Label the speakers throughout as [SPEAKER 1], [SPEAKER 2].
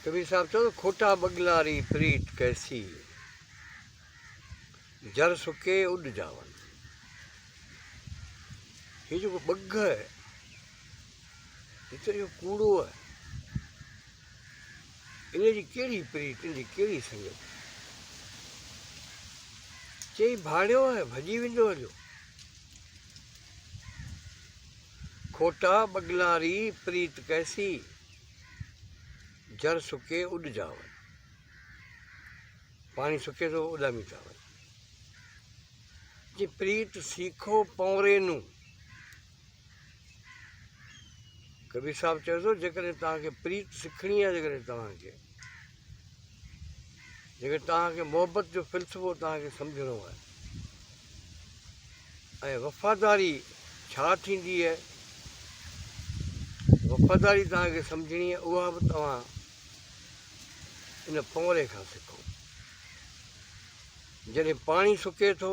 [SPEAKER 1] ڪبير صاحب چيو ته کوٽا ٻڳلاري پريت ڪيسي، جر سڪي اڏ جاون. هي جيڪو ٻگهه آهي، هي ته اهو ڪوڙو آهي. ان جي ڪهڙي پريت، ان جي ڪهڙي سنگت. چئي ڀاڙيو آهي، ڀڄي ويندو هليو. کوٽا ٻڳناري پريت ڪيسي، جر سڪي اڏ جاون. پاڻي سڪي ٿو اڏامي ٿا وڃن. جي پريت سيکو پونري نون. ڪبير صاحب چيو ٿو جيڪڏهن توهان کي پريت سکڻي آهي جيڪڏهن توهان کي جيڪڏهن توهان کي محبت جو فلسفو توهان کي سمجهڻو آهي ۽ وفاداري ڇا ٿيندي آهي وفاداري توهان کي سمجهڻي آهي اها به توهان ان پونئري کان سکو جڏهن پاڻي سڪي ٿو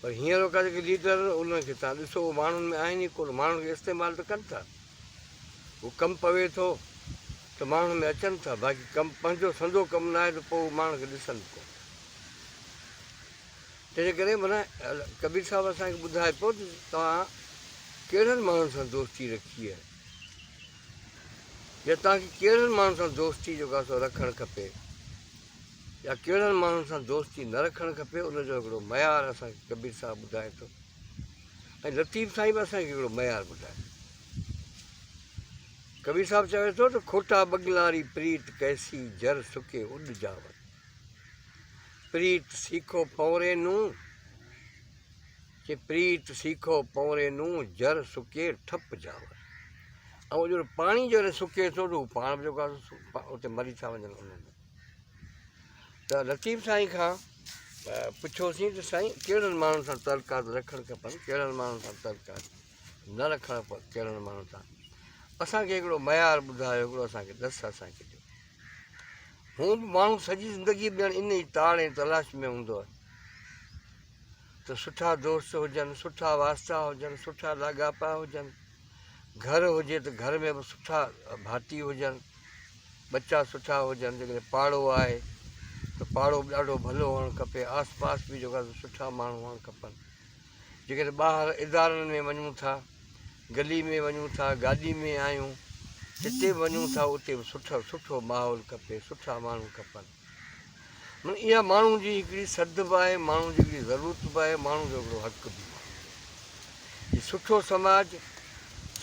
[SPEAKER 1] پر هينئر ڪا جيڪي ليڊر انهن کي تان ڏسو اهي ماڻهن ۾ آهن ئي ڪونه ماڻهن کي استعمال ته ڪن ٿا هو ڪم پوي ٿو ته ماڻهن ۾ اچن ٿا باقي ڪم پنهنجو سندو ڪم نه آهي ته پوء هو ماڻهن کي ڏسن به ڪونه تنهنجي ڪري منا ڪبير صاحب اسان کي ٻڌائي پيو ته توهان ڪهڙن ماڻهن سان دوستي رکي آهي يا توهان کي ڪهڙن ماڻهن سان دوستي جو ڪاسو رکڻ کپي يا ڪهڙن ماڻهن سان دوستي نه رکڻ کپي ان جو هڪڙو معيار اسان کي ڪبير صاحب ٻڌائي ٿو ۽ لطيف سائين به اسان کي هڪڙو معيار ٻڌائي ٿو ڪبير صاحب چوي ٿو ته کوٽا بگلاري پريت ڪيسي جر سڪي اڏ جاون پريت سيکو پونري نون چي پريت سيکو پونري نون جر سڪي ٺپ جاون ۽ جو پاڻي جو سڪي ٿو ته هو پاڻ به جيڪو اتي مري ٿا وڃن انهن ۾ ته لطيف سائين کان پڇيوسين ته سائين ڪهڙن ماڻهن سان تعلقات رکڻ کپن ڪهڙن ماڻهن سان تعلقات نه رکڻ کپن ڪهڙن ماڻهن سان اسانکي هڪڙو معيار ٻڌايو هڪڙو اسانکي ڏس اسانکي ڏيو هو به ماڻهو سڄي زندگي ڄڻ ان ئي تاڙ ۽ تلاش ۾ هوندو آهي ته سٺا دوست هجن سٺا واسطا هجن سٺا لاڳاپا هجن گهر هجي ته گهر ۾ به سٺا ڀاتي هجن ٻچا سٺا هجن جيڪڏهن پاڙو آهي ته پاڙو به ڏاڍو ڀلو هئڻ کپي آس پاس به جيڪا سٺا ماڻهو هئڻ کپن جيڪڏهن ٻاهر ادارن ۾ وڃون ٿا گلي ۾ وڃون ٿا گاڏي ۾ آهيون جتي به وڃون ٿا اتي به سٺو سٺو ماحول کپي سٺا ماڻهو کپن معني اها ماڻهو جي هڪڙي سڌ به آهي، ماڻهو جي هڪڙي ضرورت به آهي، ماڻهو جو هڪڙو حق به آهي. هي سٺو سماج،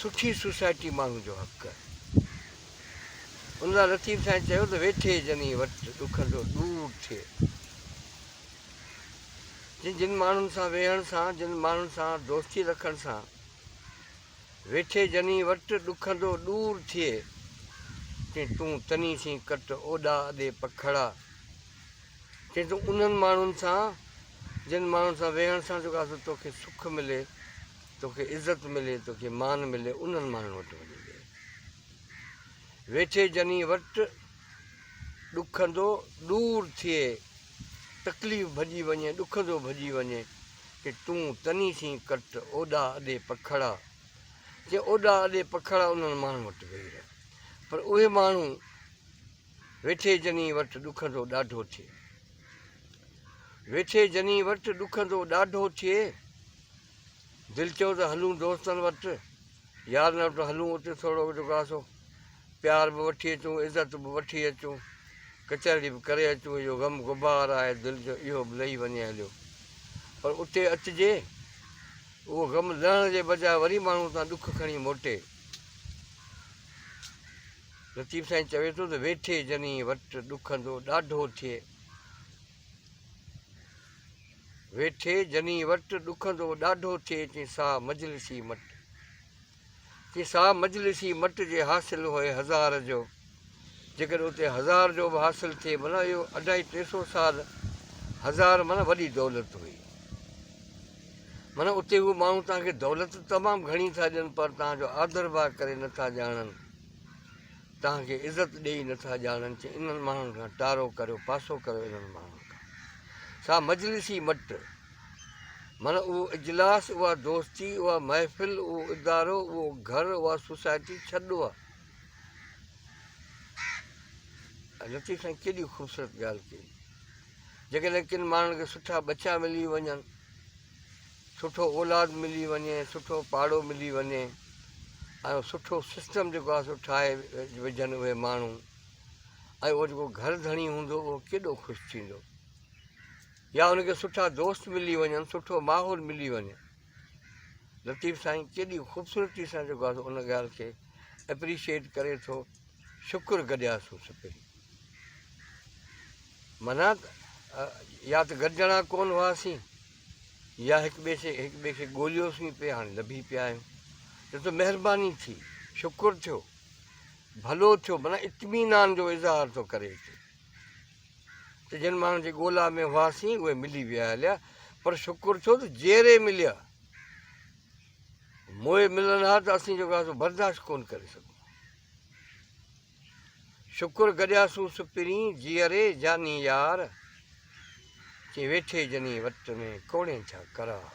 [SPEAKER 1] سٺي سوسائٽي ماڻهو جو حق آهي. ان لاء لطيف سائين چيو ته ويٺي جني وٽ ڏکن ٿو ڏور ٿئي. جن ماڻهن سان ويهڻ سان، جن ماڻهن سان دوستي رکڻ سان، ويٺي جني وٽ ڏکندو ڏور ٿئي چين تون تني سين ڪٽ اوڏا ادي پکڙا چين تون انهن ماڻهن سان جن ماڻهن سان ويهڻ سان جو ڪاسو توکي سک ملي توکي عزت ملي توکي مان ملي انهن ماڻهن وٽ وڃي ويهه ويٺي جني وٽ ڏکندو ڏور ٿئي تڪليف ڀڄي وڃي ڏکندو ڀڄي وڃي ڪي تون تني ٿين ڪٽ اوڏا اڏي پکڙا ڪي اوڏا اڏي پکڙا انهن ماڻهن وٽ ويهي رهه پر اهي ماڻهو ويٺي جني وٽ ڏکندو ڏاڍو ٿئي ويٺي جني وٽ ڏکندو ڏاڍو ٿئي دل چيو ته هلون دوستن وٽ يارن وٽ هلون اتي ٿورو جو ڪاسو پيار به وٺي اچون عزت به وٺي اچون ڪچهري به ڪري اچون اهو غم غبار آهي دل جو اهو به لهي وڃي هليو پر اتي اچجي اهو غم لهڻ جي بجاء وري ماڻهو تان ڏک کڻي موٽي لطيف سائين چوي ٿو ته ويٺي جني وٽ ڏکندو ڏاڍو ٿئي ويٺي جني وٽ، ڏکندو ڏاڍو ٿئي تين سا مجلسي مٽ. تين سا مجلسي مٽ جي حاصل هئي هزار جو، جيڪڏهن اتي هزار جو به حاصل ٿئي معنيٰ اهو اڍائي ٽي سو سال هزار معنيٰ وڏي دولت هئي. معنيٰ اتي هو ماڻهو توهان کي دولت تمام گهڻي ٿا ڏين پر توهان جو آڌر ڀاء ڪري نه ٿا ڄاڻن. توهان کي عزت ڏيئي نه ٿا ڄاڻن چي انهن ماڻهن کان ٽارو ڪريو پاسو ڪريو انهن ماڻهن کان سا مجلسي مٽ من اهو اجلاس اها دوستي اها محفل اهو ادارو اهو گهر اها سوسائٽي ڇڏو آ لطيف سائين ڪيڏي خوبصورت ڳالهه ڪئي جيڪڏهن ڪن ماڻهن کي سٺا ٻچا ملي وڃن سٺو اولاد ملي وڃي سٺو پاڙو ملي وڃي ۽ سٺو سسٽم جيڪو آهي سو ٺاهي وجهن اهي ماڻهو ۽ اهو جيڪو گهر ڌڻي هوندو اهو ڪيڏو خوش ٿيندو يا ان کي سٺا دوست ملي وڃن سٺو ماحول ملي وڃي لطيف سائين ڪيڏي خوبصورتي سان جيڪو آهي ان ڳالهه کي اپريشيئيٽ ڪري ٿو شڪر گڏيا سو سپي منا يا ته گڏجڻا ڪون هئاسين يا هڪ ٻئي کي هڪ ٻئي کي ڳوليوسين پئي هاڻي لڀي پيا آهيون جو ته مهرباني ٿي شڪر ٿيو ڀلو ٿيو معنيٰ اطمينان جو اظهار ٿو ڪري اچي ته جن ماڻهن جي ڳولا ۾ هئاسين اهي ملي ويا هليا پر شڪر ٿيو ته جيئري مليا موئي ملن ها ته اسين جو برداشت ڪون ڪري سگهون شڪر گڏيا سون سپرين جيئري جاني يار چين ويٺي جني وٽ ۾ ڪوڙين ڇا قرار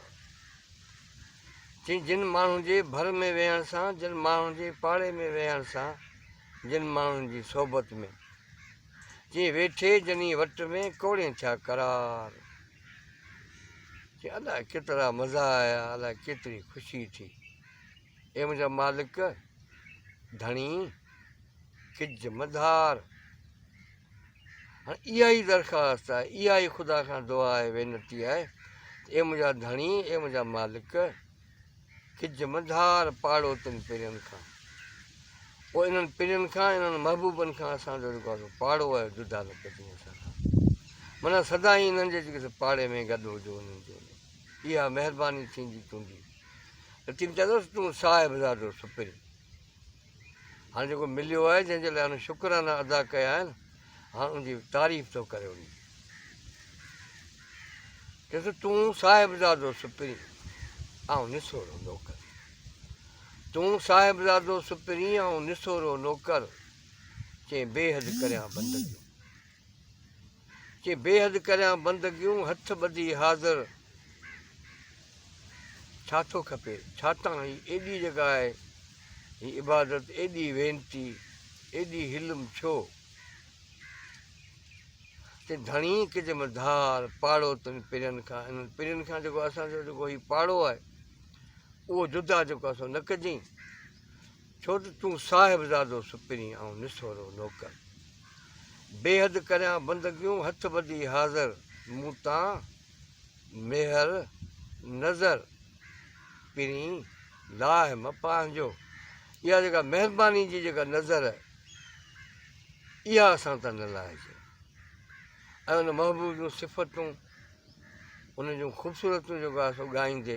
[SPEAKER 1] چين جن ماڻهن جي ڀر ۾ ويهڻ سان جن ماڻهن جي پاڙي ۾ ويهڻ سان جن ماڻهن جي صحبت ۾ چين ويٺي جني وٽ ۾ ڪوڙين ڇا قرار چين الاء ڪيترا مزا آيا الاء ڪيتري خوشي ٿي اي منهنجا مالڪ ڌڻي ڪج مدار. هاڻي اها ئي درخواست آهي اها ئي خدا کان دعا آهي وينتي آهي ته اي منهنجا ڌڻي اي منهنجا مالڪ ڪج مدار پاڙو تن پرين کان پوء انهن پرين کان انهن محبوبن کان اسان جو جيڪو آهي پاڙو آهي جدا نه ڪجي اسان کان منا سدا ئي انهن جي جيڪي پاڙي ۾ گڏ هجو انهن جو اها مهرباني ٿيندي تنهنجي. لطيف چيندوس تون صاحب زادو سپرين. هاڻ جيڪو مليو آهي جنهن جي لاء هن شڪرانا ادا ڪيا آهن هاڻ ان جي تعريف ٿو ڪري وڃي. چيس تون صاحب زادو سپرين آئون نسورو نوڪر. تون صاحب زادو سپرين آئون نسورو نوڪر چين بي حد ڪريان بندگيون. چي بيحد ڪريان بندگيون هٿ ٻڌي حاضر ڇا ٿو کپي ڇاتان هي ايڏي جڳهه آهي هي عبادت ايڏي وينتي ايڏي حلم ڇو تي ڌڻي ڪج م ڌار پاڙو تن پرين کان انهن پرين کان جيڪو اسان جو جيڪو هي پاڙو آهي اهو جدا جيڪو اسان نه ڪجين ڇو ته تون صاحبزادو سپرين آئون نسورو نوڪر بيحد ڪريان بندگيون هٿ ٻڌي حاضر مون تان ميهر نظر پرين لاهه مه پنهنجو اها جيڪا مهرباني جي جيڪا نظر اها اسان تان نه لاهجي ۽ ان محبوب جون صفتون ان جون خوبصورتون جيڪو آهي سو ڳائيندي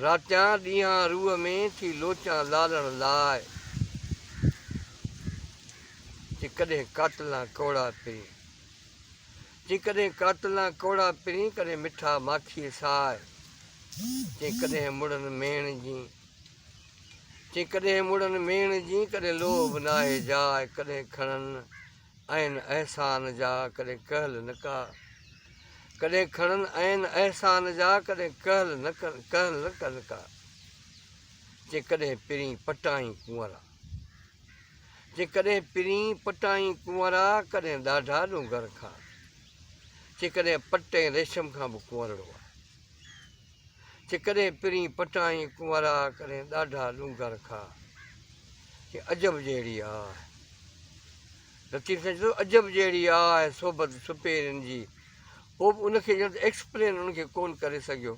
[SPEAKER 1] راتيان ڏينهان روح ۾ ٿي لوچان لالڻ لاء تي ڪڏهن قاتلان ڪوڙا پرين تي ڪڏهن قاتلان ڪوڙا پرين ڪڏهن مٺا ماکيء ساء تي ڪڏهن مڙن ميڻ جين تي ڪڏهن مڙن ميڻ جين ڪڏهن لوهه به ناهي جاء ڪڏهن کڻن آهن احسان جا ڪڏهن ڪهل نه ڪا ڪڏهن کڻن آهن احسان جا ڪڏهن ڪهل نه ڪهل نه ڪن ڪا جي ڪڏهن پرين پٽائين ڪنورا جي ڪڏهن پرين پٽائين ڪنورا ڪڏهن ڏاڍا ڏونگر کان جي ڪڏهن پٽين ريشم کان به ڪنورڙو آهي چي ڪڏهن پرين پٽائين ڪنورا ڪڏهن ڏاڍا ڏونگر کا چي عجب جهڙي آء لطيف سائين چيو عجب جهڙي آء صحبت سپهرين جي پوء به ان کي ڄڻ ته ايڪسپلين ان کي ڪون ڪري سگهيو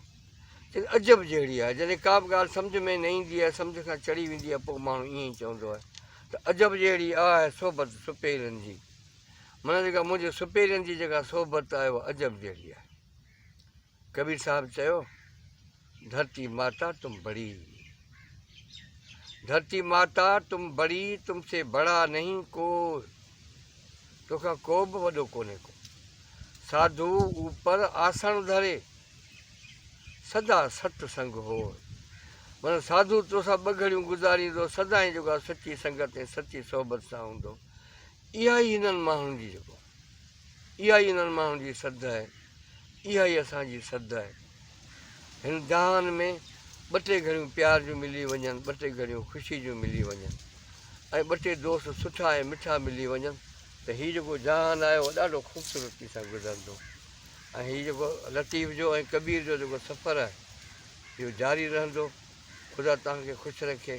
[SPEAKER 1] چي عجب جهڙي آء جڏهن ڪا به ڳالهه سمجھ ۾ نه ايندي آهي سمجھ کان چڙهي ويندي آهي پوء ماڻهو ائين ئي چوندو آهي ته عجب جهڙي آء صحبت سپهرين جي معنيٰ جيڪا منهنجي سپهرين جي جيڪا صحبت آهي اها عجب جهڙي آهي ڪبير صاحب چيو، ڌرتي ماتا تم بڙي ڌرتي ماتا تم بڙي تم سي بڙا نهين ڪو توکان ڪو به وڏو ڪونهي ڪو ساڌو اوپر آسڻ ڌري سدا ست سنگ هو من ساڌو توسان ٻه گهڙيون گذاريندو سدائين جوڳا سچي سنگت ۽ سچي صحبت سان هوندو اها ئي هنن ماڻهن جي جيڪو اها ئي انهن ماڻهن جي سڌ آهي، اها ئي اسان جي سڌ آهي. هن جهان ۾ ٻه ٽي گهڙيون پيار جون ملي وڃن، ٻه ٽي گهڙيون خوشي جون ملي وڃن ۽ ٻه ٽي دوست سٺا ۽ مٺا ملي وڃن ته هي جيڪو جهان آهي اهو ڏاڍو خوبصورتي سان گذرندو ۽ هي جيڪو لطيف جو ۽ ڪبير جو جيڪو سفر آهي اهو جاري رهندو. خدا توهان کي خوش رکي.